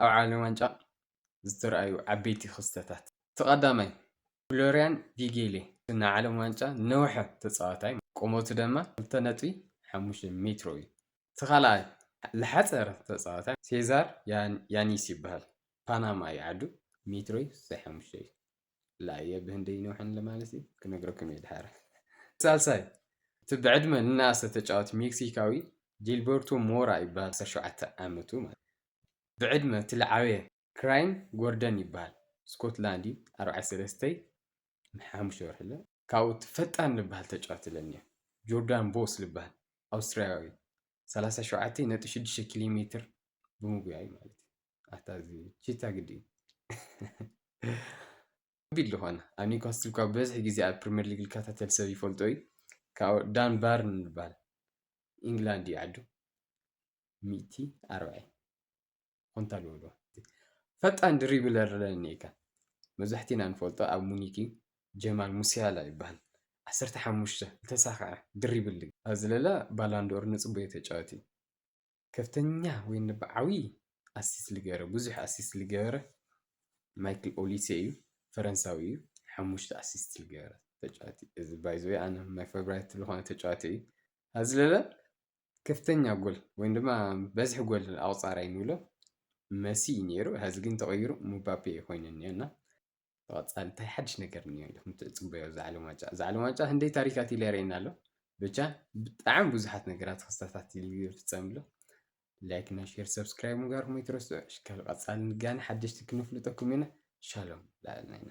ኣብ ዓለም ዋንጫ ዝተርኣዩ ዓበይቲ ክስተታት እቲ ቀዳማይ ፍሎርያን ቪጌሌ ናይ ዓለም ዋንጫ ዝነውሐ ተፃዋታይ ቁመቱ ድማ ክልተ ነጥቢ ሓሙሽተ ሜትሮ እዩ እቲ ካልኣይ ዝሓፀረ ተፃዋታይ ሴዛር ያኒስ ይበሃል ፓናማ እዩ ዓዱ ሜትሮ ስሳይ ሓሙሽተ እዩ። ላየ ብህንደይ ይነውሐን ለማለሲ ክነግረኩም እየ ድሓር። ሳልሳይ እቲ ብዕድመ ንነኣሰ ተጫዋቲ ሜክሲካዊ ጂልበርቶ ሞራ ይበሃል ዓሰርተ ሸውዓተ ዓመቱ ማለት ብዕድመ እቲ ልዓበየ ክራይም ጎርደን ይበሃል ስኮትላንድ እዩ ኣርባዕተ ሰለስተ ሓሙሽተ ወርሒ ኣሎ ካብኡ እቲ ፈጣን ልበሃል ተጫዋቲ ለኒዮ ጆርዳን ቦስ ልበሃል ኣውስትራያዊ ሰላሳ ሸውዓተ ነጥቢ ሽዱሽተ ኪሎ ሜትር ብምጉያይ ማለት እዩ ኣታ እዚ ቺታ ግዲ ቢል ዝኾነ ኣብ ኒውካስትል ካብ ብዝሒ ግዜ ኣብ ፕሪምየር ሊግ ዝከታተል ሰብ ይፈልጦ እዩ ካብ ዳን ባርን ዝበሃል ኢንግላንድ እዩ ዓዱ ሚእቲ ኣርባዒ ኮንታ ኣለዎ ፈጣን ድሪብለር ለኒ እካ መብዛሕቲና ንፈልጦ ኣብ ሙኒክ እዩ ጀማል ሙሲያላ ይበሃል ዓሰርተ ሓሙሽተ ዝተሳክዐ ድሪብል ኣብዚ ለላ ባላንዶር ንፅቡየ ተጫወቲ ከፍተኛ ወይኒ ብዓብዪ ኣሲስት ዝገበረ ብዙሕ ኣሲስት ዝገበረ ማይክል ኦሊሴ እዩ ፈረንሳዊ እዩ ሓሙሽተ ኣሲስት ዝገበረ ተጫዋቲ እዚ ባይዘወይ ኣነ ናይ ፌቨራይት ዝኾነ ተጫዋቲ እዩ ኣብዚ ለበል ከፍተኛ ጎል ወይ ድማ በዝሒ ጎል ኣቁፃራይ ንብሎ መሲ እዩ ነይሩ ሀዚ ግን ተቀይሩ ሙባፔ ኮይኑ እኒኦ እና ብቐፃሊ እንታይ ሓድሽ ነገር እኒኦ ኢልኩም ትፅበዮ እዛ ዓለም ዋንጫ እዛ ዓለም ዋንጫ ክንደይ ታሪካት ኢለ የርእየና ኣሎ ብቻ ብጣዕሚ ብዙሓት ነገራት ክስተታት ይፍፀም ኣሎ ላይክ እና ሼር ሰብስክራይብ ምግባርኩም ኣይትረስዑ ሽካል ቀፃሊ ንጋነ ሓደሽቲ ክንፍልጠኩም ኢና ሻሎም ላዕልና ኢና